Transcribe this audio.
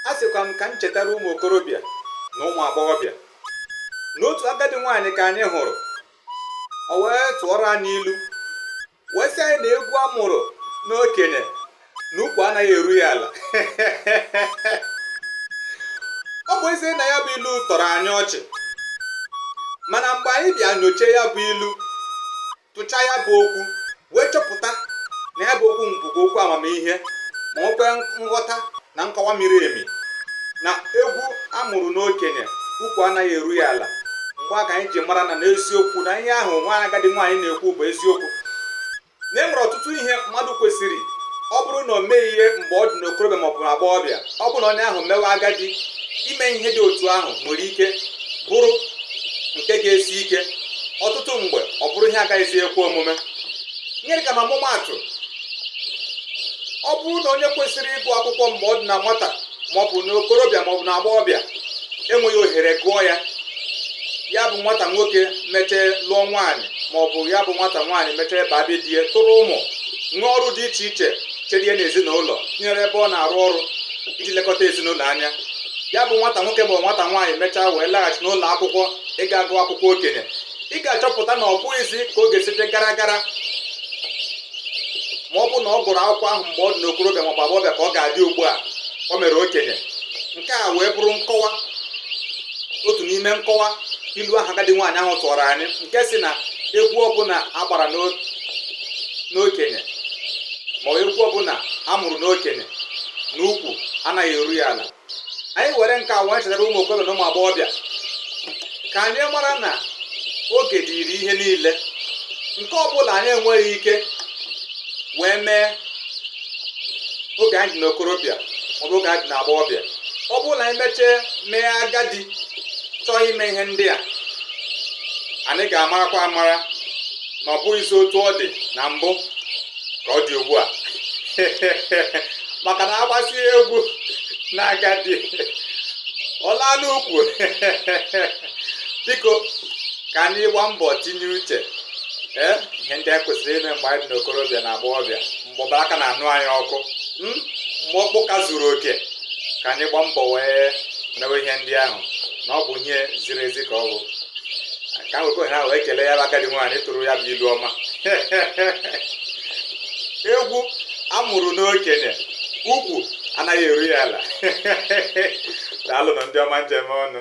a sịkwa m ka m chetara ụmụ okorobịa na ụmụ agbọghọbịa na otu agadi nwaanyị ka anyị hụrụ o wee tụọrọ anyị ilu wee sị anyị na egwu a mụrụ n'okenye na ukwu anaghị eru ya ala ọ bụ ezie na ya bụ ilu tọrọ anyị ọchị mana mgbe anyị bịa nyochie ya bụ ilu tụchaa ya bụ okwu wee chọpụta na ya bụ okwu bụkwa okwu amamihe ma nwekwe nghọta na nkọwa miri emi na egwu a mụrụ n'okenye ukwu anaghị eru ya ala mgbe a ka anyị ji mara na n'eziokwu na ihe ahụ nwa agadi nwaanyị na-ekwu bụ eziokwu na e nwere ọtụtụ ihe mmadụ kwesịrị ọ bụrụ na o meghị ihe mgbe ọ dị n'okorobịa maọbụ na agbọghọbịa ọ bụrụ na onye ahụ mewe agadi ime ihe dị otu ahụ nwere ike bụrụ nke ga-esi ike ọtụtụ mgbe ọ bụrụ ihe agaghịzi ekwe omume nye dịka na ọmụmaatụ ọ bụrụ na onye kwesịrị ịgụ akwụkwọ mgbe ọ dị na nwata maọbụ na okorobịa maọbụ na agbọghọbịa enweghị ohere gụọ ya ya bụ nwata nwoke mechee lụọ nwaanyị maọbụ ya bụ nwata nwaanyị mechee baa be di ya tụrụ ụmụ nwee ọrụ dị iche iche chere ya n'ezinụlọ tinyere ebe ọ na-arụ ọrụ iji lekọta ezinụlọ anya ya bụ nwata nwoke ma nwata nwaanyị mechaa wee laghachi n'ụlọ akwụkwọ ịga agụ akwụkwọ okenye ị ga-achọpụta na ọ bụghịzi ka ọ ga-esi dị gara gara ma ọ bụ na ọ gụrụ akwụkwọ ahụ mgbe ọ dị n'okorobịa ma ọ bụ agbọghọbịa ka ọ ga-adị ugbu a o mere okenye nke a wee bụrụ nkọwa otu n'ime nkọwa ilu ahụ agadi nwaanyị ahụ tụọrọ anyị nke sị na egwu ọbụla a gbara n'okenye ma egwu ọbụla a mụrụ n'okenye na ukwu anaghị eru ya ala anyị were nke a wee chetara ụmụ okorobịa na ụmụ agbọghọbịa ka anyị mara na oge dịrị ihe niile nke ọ bụla anyị enweghị ike wee mee oge anyị dị n'okorobịa maọbụ oge anyị dị n'agbọghọbịa ọ bụrụ na anyị mechee mee agadi chọọ ime ihe ndị a anyị ga-amarakwa amara na ọ bụghịzi otu ọ dị na mbụ ka ọ dị ugbu a maka na a gbasịa egwu na agadi ọ laa n'ukwu biko ka anyị gbaa mbọ tinye uche ee ihe ndị anyị kwesịrị ime mgbe anyị dị n'okorobịa na agbọghọbịa mgbe ọbara ka na-anụ anyị ọkụ mgbe ọkpụ ka zuru oke ka anyị gbaa mbọ wee mewe ihe ndị ahụ na ọ bụ ihe ziri ezi ka ọ bụ ka m wekwe ohere a wee kelee ya bụ agadi nwaanyị tụrụ ya bụ ilu ọma egwu amụrụ n'okenye ukwu anaghị eru ya ala daalụnụ ndị ọma m ji eme ọnụ